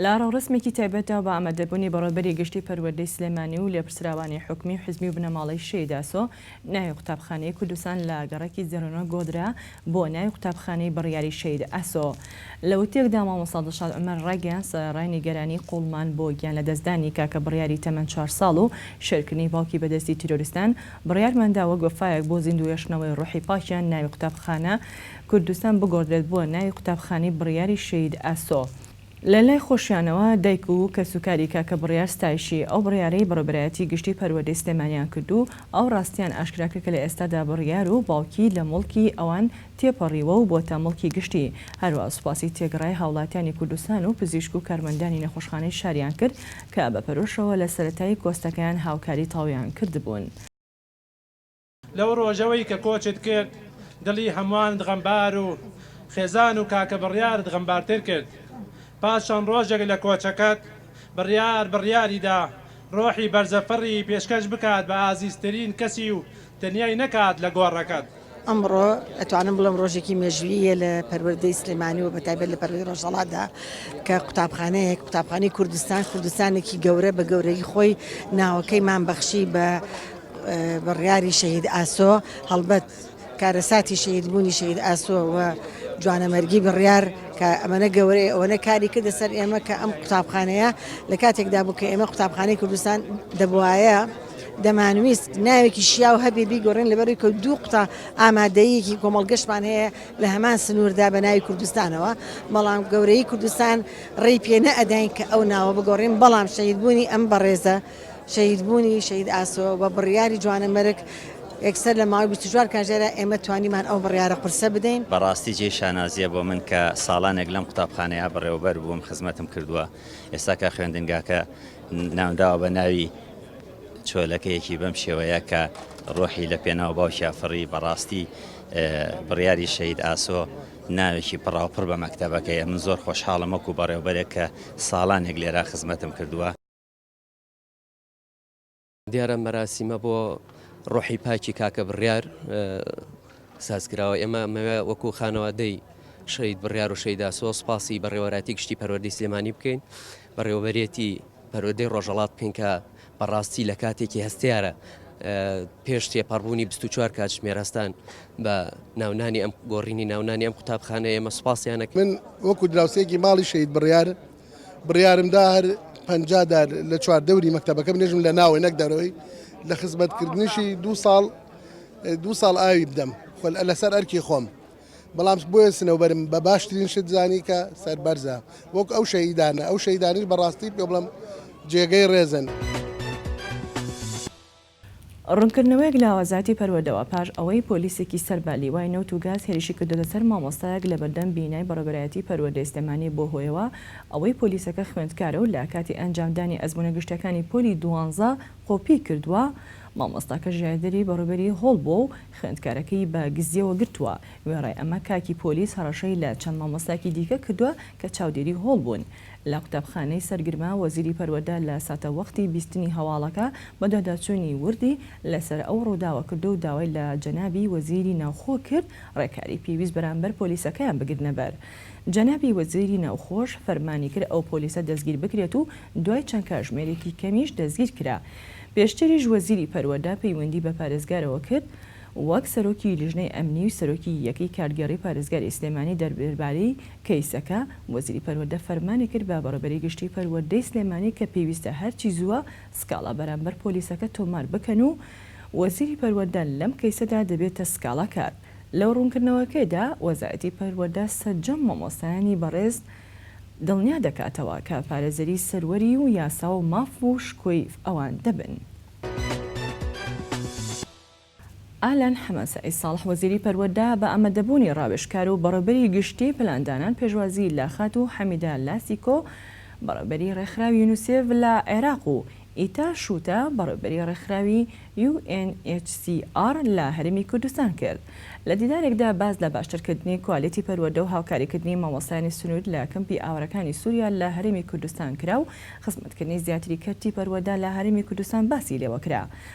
لە ڕەورەسمێکی تایبەتدا بە ئامادەبوونی بەڕێوەبەری گشتی پەروەردەی سلێمانی و لێپرسراوانی حکومی و حزبی و بنەماڵەی شێید ئاسۆ، ناوی قوتابخانەی کوردستان لە گەڕەکی زێرۆنۆ گۆدرا بۆ ناوی قوتابخانەی بڕیاری شێید ئاسۆ. لە وتەیەکدا مامۆستا دڵشاد عومەر ڕایگەیاند سەرەڕای نیگەرانی قووڵمان بۆ گیانلەدەستدانی کاکە بڕیاری تەمەن چوار ساڵ و شێرکردنی باوکی بەدەستی تیرۆریستان، بڕیارماندا وەک وەفایەک بۆ زیندووهێشتنەوەی ڕۆحی پاکیان ناوی قوتابخانە کوردستان بگۆڕدرێت بۆ ناوی قوتابخانەی بڕیاری شەهید ئاسۆ. لە لای خۆشیانەوە دایک و کەسوکاری کاکە بڕیار ستایشی ئەو بڕیارەی بەڕێوبەرایەتی گشتی پەروەردەی سلێمانیان کرد و ئەو ڕاستیان ئاشکرا کرد کە لە ئێستادا بڕیار و باوکی لە موڵکی ئەوان تێپەڕیوە و بۆتە موڵکی گشتی هەروەها سوپاسی تێگڕای هاوڵاتیانی کوردستان و پزیشک و کارمەندانی نەخۆشخانەی شاریان کرد کە بە پەرۆشەوە لە سەرەتای کۆستەکەیان هاوکاری تەواویان کردبوون. لەو ڕۆژەوەی کە کۆچت کرد دڵی هەموانت غەمبار و خێزان و کاکە بڕیارت غەمبارتر کرد پاش چەند ڕۆژێک لە کۆچەکەت بڕیار بڕیاری دا ڕۆحی بەرزە فڕی پێشکەش بکات بە ئازیزترین کەسی و تەنیای نەکات لە گۆڕەکەت. ئەمڕۆ ئەتوانم بڵێم ڕۆژێکی مێژوویی یە لە پەروەردەی سلێمانی و بە تایبەت لە پەروەردەی ڕۆژهەڵات دا کە قوتابخانەیەک قوتابخانەی کوردستان کوردستانێکی گەورە بە گەورەیی خۆی ناوەکەی مان بەخشی بە بڕیاری شەهید ئاسۆ هەڵبەت کارەساتی شەهید بوونی شەهید ئاسۆ و جوانەمەرگی بڕیار کە ئەمەە گەورەیە ئەوەنە کاری کردە سەر ئێمە کە ئەم قوتابخانەیە لە کاتێکدا بوو کە ئێمە قوتابخانەی کوردستان دەبواە دەمانویست ناوێکی شیاو هەبێ بیگۆڕین لەبەری کە دوو قوتا ئامادەیەکی کۆمەڵگەشمان هەیە لە هەمان سنووردا بە ناوی کوردستانەوە بەڵام گەورەی کوردستان ڕێی پێنە ئەداین کە ئەو ناوە بگۆڕین بەڵام شەید بوونی ئەم بەڕێزە شەهید بوونی شەهید ئاسۆ بە بڕیاری جوانەمەرگ یەکسەر لە ماوەی بیست و چوار کاژێرا ئێمە توانیمان ئەو بڕیارە قورسە بدەین. بەڕاستی جێی شانازیە بۆ من کە ساڵانێک لەم قوتابخانەیە بەڕێوەبەر بووم خزمەتم کردووە ئێستا کە خوێندنگاکە ناونراوە بە ناوی چۆلەکەیەکی بەم شێوەیە کە ڕۆحی لە پێناو باوکیا فڕی بەڕاستی بڕیاری شەید ئاسۆ ناوێکی پڕاوپڕ بە مەکتتەبەکەیە من زۆر خۆشحاڵم وەکو بەڕێوبەرێک کە ساڵانێک لێرا خزمەتم کردووە دیارە مەراسیمە بۆ ڕۆحی پاکی کاکە بڕیار سازکراوە ئێمە مەوێ وەکو خانەوادەی شەید بڕیار و شەیدا سۆ سپاسی بەڕێوەراتی گشتی پەروەردی سلێمانی بکەین بەڕێوەبەرێتی پەرۆدەی ڕۆژەڵات بکەین کە بەڕاستی لە کاتێکی هەستیارە پێش تێپەڕبوونی 24 کاتژمێرەستان بە ناونانی ئەم گۆڕینی ناونانی ئەم قوتابخانە ئێمە سوپاسیانەک من وەکو دراوسێکی ماڵی شەید بڕیار بڕیارم دا هەر پەنجا دار لە چوار دەوری مەکتەبەکە بنێژم لە ناوەی نەک دەرەوەی لە خزمەتکردنیشی دو ساڵ دو ساڵ ئاوی بدەم خۆ لەسەر ئەرکی خۆم بەڵام بۆیە سنەوبەرم بە باشترین شت زانی کە سەربەرزە وەک ئەو شەهیدانە ئەو شەیدانیش بەڕاستی پێ بڵم جێگەی ڕێزن. ڕوونکردنەوەیەک لە ئاوازاتی پەروەردەوە پاش ئەوەی پۆلیسێکی سەر بە لیوای نەوت و گاز هێرشی کردۆتە سەر مامۆستایەک لە بەردەم بینای بەڕێوەبەرایەتی پەروەردەی سلێمانی بووە هۆیەوە ئەوەی پۆلیسەکە خوێندکارە و لە کاتی ئەنجامدانی ئەزموونە گشتیەکانی پۆلی دوانزە قۆپی کردووە مامۆستاکە ژایەدەری بەڕێوبەری هۆڵ بووە و خوێندکارەکەی بە گزیەوە گرتووە وێڕای ئەمە کاکی پۆلیس هەڕەشەی لە چەند مامۆستایەکی دیکە کردووە کە چاودێری هۆڵ بوون لە قوتابخانەی سەرگرمە وەزیری پەروەردە لە ساتەوەختی بیستنی هەواڵەکە بەدواداچوونی وردی لەسەر ئەو ڕووداوە کردو داوای لە جەنابی وەزیری ناوخۆ کرد ڕێکاری پێویست بەرامبەر پۆلیسەکەیان بگرنە بەر جەنابی وەزیری ناوخۆش فەرمانی کرد ئەو پۆلیسە دەستگیر بکرێت و دوای چەند کاژمێرێکی کەمیش دەستگیر کرا پێشتریش وەزیری پەروەردە پەیوەندی بە پارێزگارەوە کرد وەک سەرۆکی لیژنەی ئەمنی و سەرۆکی یەکەی کارگێڕی پارێزگاری سلێمانی دەربارەی کەیسەکە، وەزیری پەروەردە فەرمانی کرد بە بەڕێوبەری گشتی پەروەردەی سلێمانی کە پێویستە هەرچی زووە سکاڵا بەرامبەر پۆلیسەکە تۆمار بکەن و وەزیری پەروەردە لەم کەیسەدا دەبێتە سکاڵاکار. لە ڕوونکردنەوەکەیدا، وەزارەتی پەروەردە سەرجەم مامۆستایانی بەڕێز دڵنیا دەکاتەوە کە پارێزەری سەروەری و یاسا و ماف و شکۆی ئەوان دەبن. ئالان حەمە سەعید ساڵح وەزیری پەروەردە بە ئامادەبوونی ڕاوێژکار و بەڕێوبەری گشتی پلاندانان پێشوازی لە خاتوو حەمیدە لاسیکۆ بەڕێوبەری ڕێکخراوی یونسێف لە عێراق و ئیتا شووتە بەڕێوبەری ڕێکخراوی UNHCR لە هەرێمی کوردستان کرد لە دیدارێکدا باس لە باشترکردنی کوالێتی پەروەردە و هاوکاریکردنی مامۆستایانی سنوور لە کەمپی ئاوارەکانی سوریا لە هەرێمی کوردستان کرا و خزمەتکردنی زیاتری کەرتی پەروەدە لە هەرێمی کوردستان باسی لێوەکرا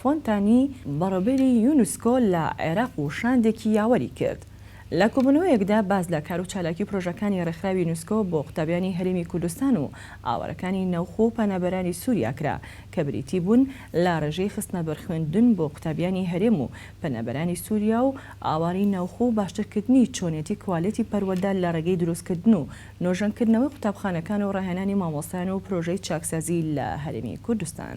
فۆنتانی بەڕێوەبەری یونسکۆ لە عێراق و شاندێکی یاوەری کرد. لە کۆبوونەوەیەکدا باس لە کار و چالاکی و پرۆژەکانی ڕێکخراوی یونسکۆ بۆ قوتابیانی هەرێمی کوردستان و ئاوارەکانی ناوخۆ و پەنابەرانی سووریا کرا کە بریتی بوون لە ڕێژەی خستنەبەر خوێندن بۆ قوتابیانی هەرێم و پەنابەرانی سووریا و ئاوارەی ناوخۆ و باشترکردنی چۆنیەتی کوالێتی پەروەردە لە ڕێگەی دروستکردن و نۆژەنکردنەوەی قوتابخانەکان و ڕاهێنانی مامۆستایان و پرۆژەی چاکسازی لە هەرێمی کوردستان.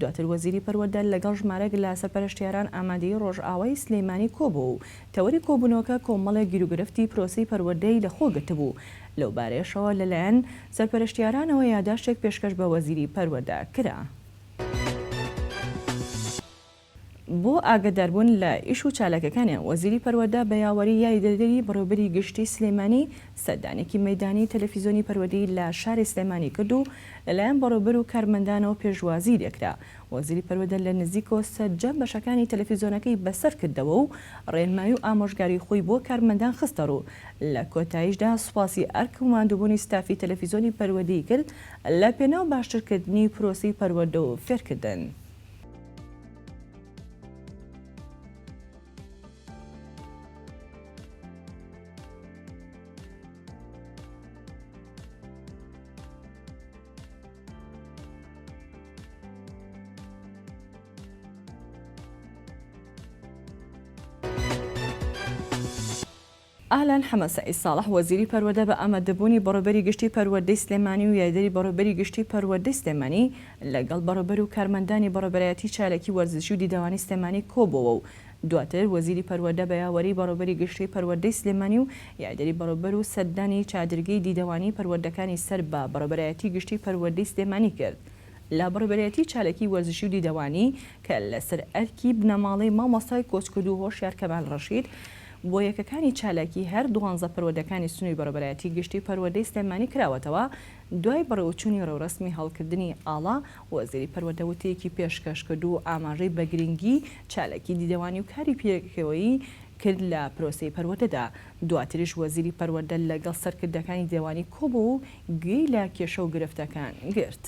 دواتر وەزیری پەروەردە لەگەڵ ژمارەک لە سەرپەرشتیاران ئامادەی ڕۆژئاوای سلێمانی کۆبووە و تەوەری کۆبوونەوەکە کۆمەڵێک گیروگرفتی پرۆسەی پەروەردەی لەخۆ گرتبوو، لەوبارەیەشەوە لەلایەن سەرپەرشتیارانەوە یاداشتێک پێشکەش بە وەزیری پەروەردە کرا. بۆ ئاگەداربوون لە ئیش و چالاکیەکانیان وەزیری پەروەردە بە یاوەری یاریدەدەری بەڕێوبەری گشتی سلێمانی سەردانێکی مەیدانی تەلەفیزۆنی پەروەردەی لە شاری سلێمانی کرد و لەلایەن بەڕێوبەر و کارمەندانەوە پێشوازیی لێکرا. وەزیری پەروەدە لە نزیکەوە سەرجەم بەشەکانی تەلەفیزۆنەکەی بەسەر کردەوە و ڕێنمایی و ئامۆژگاریی خۆی بۆ کارمەندان خستە ڕوو. لە کۆتاییشدا سوپاسی ئەرک و ماندووبوونی ستافی تەلەفیزۆنی پەروەدەی کرد لە پێناو باشترکردنی پرۆسەی پەروەردە و فێرکردن. ئالان حەمە سەعید ساڵح وەزیری پەروەردە بە ئامادەبوونی بەڕێوبەری گشتی پەروەردەی سلێمانی و یاریدەری بەڕێوبەری گشتی پەروەردەی سلێمانی لەگەڵ بەڕێوبەر و کارمەندانی بەڕێوبەرایەتی چاالکی وەرزشی و دیدەوانی سلێمانی کۆبۆوە و دواتر وەزیری پەروەردە بە یاوەری بەڕێوبەری گشتی پەروەردەی سلێمانی و یاێدەری بەڕێوبەر و سەردانی چادرگەی دیدەوانی پەروەردەکانی سەر بە بەڕێوبەرایەتی گشتی پەروەردەی سلێمانی کرد لە بەڕێوبەرایەتی چالاکی وەرزشی و دیدەوانی کە لە سەر ئەرکی بنەماڵەی مامۆستای کۆچکردوو هۆشیار کەمال ڕەشید بۆ یەکەکانی چالاکی هەر دوانزە پەروەردەکانی سنووری بەڕێوبەرایەتی گشتی پەروەردەی سلێمانی کراوەتەوە دوای بەڕێوەچوونی ڕێوڕەسمی هەڵکردنی ئاڵا وەزیری پەروەردە وتەیەکی پێشکەش کرد و ئاماژەی بە گرنگی چالاکی دیدەوانی و کاری پێکەوەیی کرد لە پرۆسەی پەروەردەدا، دواتریش وەزیری پەروەردە لەگەڵ سەرکردەکانی دێوانی کۆبوو و گوێی لە کێشە و گرفتەکان گرت.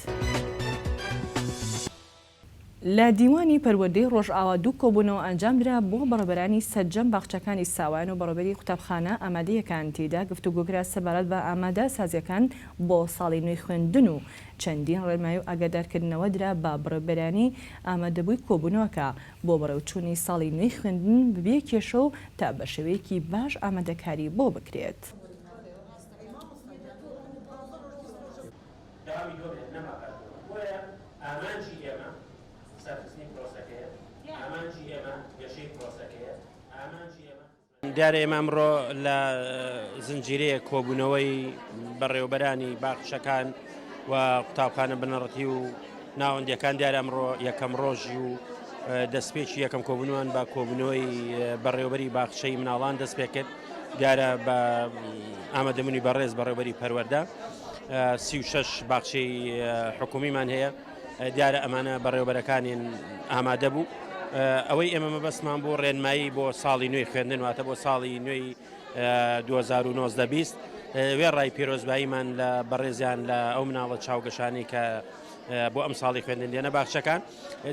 لە دیوانی پەروەردەی ڕۆژئاوا دوو کۆبوونەوە ئەنجامدرا بۆ بەڕێوەبەرانی سەرجەم باخچەکانی ساوایان و بەڕێوەبەری قوتابخانە ئامادەیەکان، تێیدا گفتوگۆکرا سەبارەت بە ئامادە سازییەکان بۆ ساڵی نوێی خوێندن و چەندین ڕێنمایی و ئاگادارکردنەوە درا بە بەڕێوەبەرانی ئامادەبووی کۆبوونەوەکە بۆ بەڕێوەچوونی ساڵی نوێی خوێندن بەبێ کێشە و تا بەشێوەیەکی باش ئامادەکاری بۆ بکرێت. دیارە ئێمە ئەمڕۆ لە زنجیرەیەک کۆبوونەوەی بەڕێوەبەرانی باخچەکان و قوتابخانە بنەڕەتی و ناوەندەکان دیارە ئەمڕۆ یەکەم ڕۆژی و دەستپێکی یەکەم کۆبوونوان بە کۆبوونەوەی بەڕێوبەری باخچەی مناڵان دەست پێ کرد دیارە بە ئامادەمنی بەڕێز بەڕێوبەری پەروەەردە سی و شش باخچەی حکومیمان هەیە دیارە ئەمانە بەڕێوەبەرەکانین ئامادە بوو ئەوەی ئێمە مەبەستمان بۆ ڕێنمایی بۆ ساڵی نوێی خوێندن واتە بۆ ساڵی نوێی 2019 بیست وێڕای پیرۆزباییمان لە بەڕێزیان لە ئەو مناڵە چاوگەشانی کە بۆ ئەم ساڵی خوێندن دێنە باخچەکان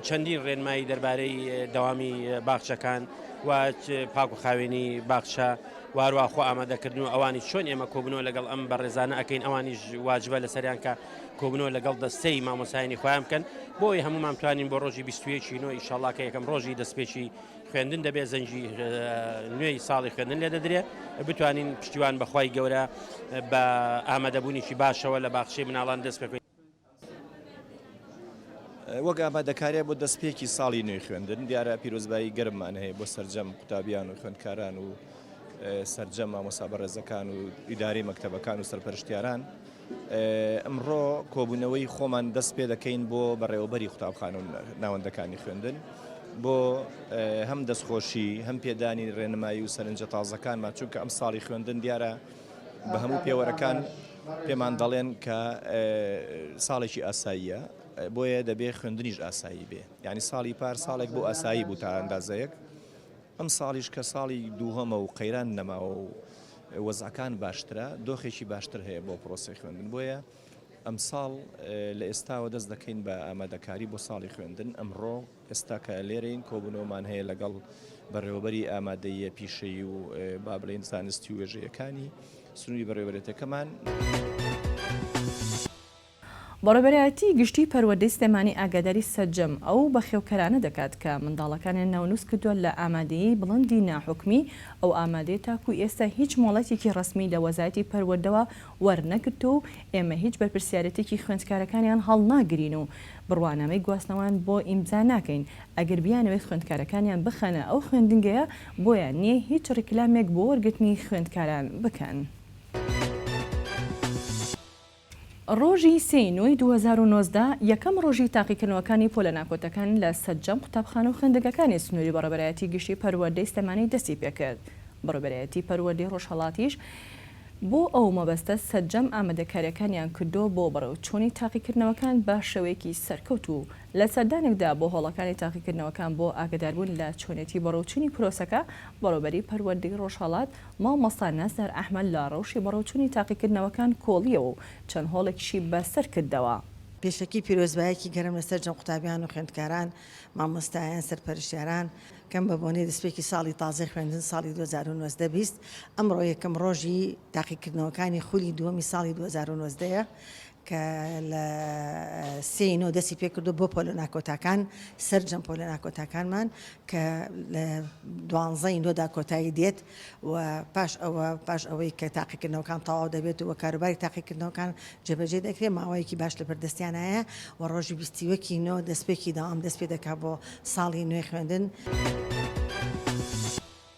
چەندین ڕێنمایی دەربارەی دەوامی باخچەکان و پاک و خاوێنی باخچە وارواخۆ ئامادەکردن و ئەوانی چۆن ئێمە کۆبنەوە لەگەڵ ئەم بەڕێزانە ئەەکەین ئەوانیش واجبە لەسەریان کە کۆبوونەوە لەگەڵ دەستەی مامۆستایانی خۆیان بکەن بۆ ئەوەی هەموومان بتوانین بۆ ڕۆژی بیست و یەک ی نۆ ئیشەڵڵا کە یەکەم ڕۆژی دەستپێکی خوێندن دەبێت زەنگی نوێی ساڵی خوێندن لێ دەدرێت بتوانین پشتیوان بە خوای گەورە بە ئامادەبوونێکی باشەوە لە باخچەی مناڵان دەست پێ وەک ئامادەکاریە بۆ دەستپێکی ساڵی نوێی خوێندن دیارە پیرۆزبایی گەرممان هەیە بۆ سرجەم قوتابیان و خوێندکاران و سرجەم مامۆسا بەڕێزەکان و ئیداری مەکتتەبەکان و سەرپەرشتیاران ئمڕۆ کۆبوونەوەی خۆمان دەست پێ دەکەین بۆ بەڕێوەبەری قوتابخانە و ناوەندەکانی خوێندن بۆ هەم دەستخۆشی هەم پێدانی ڕێنمایی و سەرنجە تازەکانمان چونکە ئەم ساڵی خوێندن دیارە بە هەموو پێوەرەکان پێمان دەڵێن کە ساڵێکی ئاساییە بۆیە دەبێ خوێندنیش ئاسایی بێ ینی ساڵی پار ساڵێک بۆ ئاسایی بوو تا ئەندازەیەک ئەم ساڵیش کە ساڵی دووهەمە و قەیران نەماوە و وەزعەکان باشترە، دۆخێکی باشتر هەیە بۆ پرۆسەی خوێندن، بۆیە ئەمساڵ لە ئێستاوە دەست دەکەین بە ئامادەکاری بۆ ساڵی خوێندن، ئەمڕۆ ئێستا کە لێرەین کۆبوونەوەمان هەیە لەگەڵ بەڕێوەبەری ئامادەییە پیشەیی و با بڵێین زانستی و وێژەیەکانی سنووری بەڕێوەبەرێتەکەمان. بەڕێوەبەرایەتیی گشتیی پەروەردەی سلێمانی ئاگاداری سەرجەم ئەو بەخێوکەرانە دەکات کە منداڵەکانیان ناونووس کردووە لە ئامادەیی بڵندی ناحکومی، ئەو ئامادەیە تاکوو ئێستا هیچ مۆڵەتێکی ڕەسمی لە وەزارەتی پەروەردەوە وەرنەگرتووە و ئێمە هیچ بەرپرسیارێتیی خوێندکارەکانیان هەڵناگرین و بڕوانامەی گواستنەوەیان بۆ ئیمزا ناکەین ئەگەر بیانەوێت خوێندکارەکانیان بخەنە ئەو خوێندنگەیە بۆیان نییە هیچ ڕیکلامێک بۆ وەرگرتنی خوێندکاران بکەن. ڕۆژی سێ ی نۆی دوو هەزار و نۆزدە، یەکەم ڕۆژی تاقیکردنەوەکانی پۆلە ناکۆتەکان لە سەرجەم قوتابخانە و خوێندنگەکانی سنووری بەڕێوەبەرایەتی گشتی پەروەردەی سلێمانی دەستی پێکرد، بەڕێوەبەرایەتی پەروەردەی ڕۆژهەڵاتیش بۆ ئەو مەبەستە سەرجەم ئامادەکارییەکانیان کردووە بۆ بەڕێوچوونی تاقیکردنەوەکان بە شێوەیەکی سەرکەوتوو و لە سەردانێکدا بۆ هۆڵەکانی تاقیکردنەوەکان بۆ ئاگەداربوون لە چۆنێتی بەڕێوچوونی پرۆسەکە، بەڕێوەبەری پەروەردەی ڕۆژهەڵات مامۆستا نەزەر ئەحمەد لە ڕەوشی بەڕێوچوونی تاقیکردنەوەکان کۆڵییەوە و چەند هۆڵێکیشی بە سەر کردەوە. پێشەکی پیرۆزبایەکی گەرم لە سەرجەم قوتابیان و خوێندکاران، مامۆستایان، سەرپەرشتیاران کەم بە بۆنەی دەستپێکی ساڵی تازەی خوێندن ساڵی دوو هەزار و نۆزدە بیست ئەمڕۆ یەکەم ڕۆژی تاقیکردنەوەکانی خولی دووەمی ساڵی دوو هەزار و نۆزدە یە کە لە سێ ی نۆ دەستی پێکردووە بۆ پۆلە ناکۆتاکان سەرجەم پۆلە ناکۆتاکانمان کە لە دوانزە ی نۆدا کۆتایی دێت و پاش ئەوە پاش ئەوەی کە تاقیکردنەوەکان تەواو دەبێت و کاروباری تاقیکردنەوەکان جێبەجێ دەکرێت ماوەیەکی باش لە بەردەستیانایە و ڕۆژی بیست و یەک ی نۆ دەستپێکی دەوام دەست پێ دەکات بۆ ساڵی نوێی خوێندن.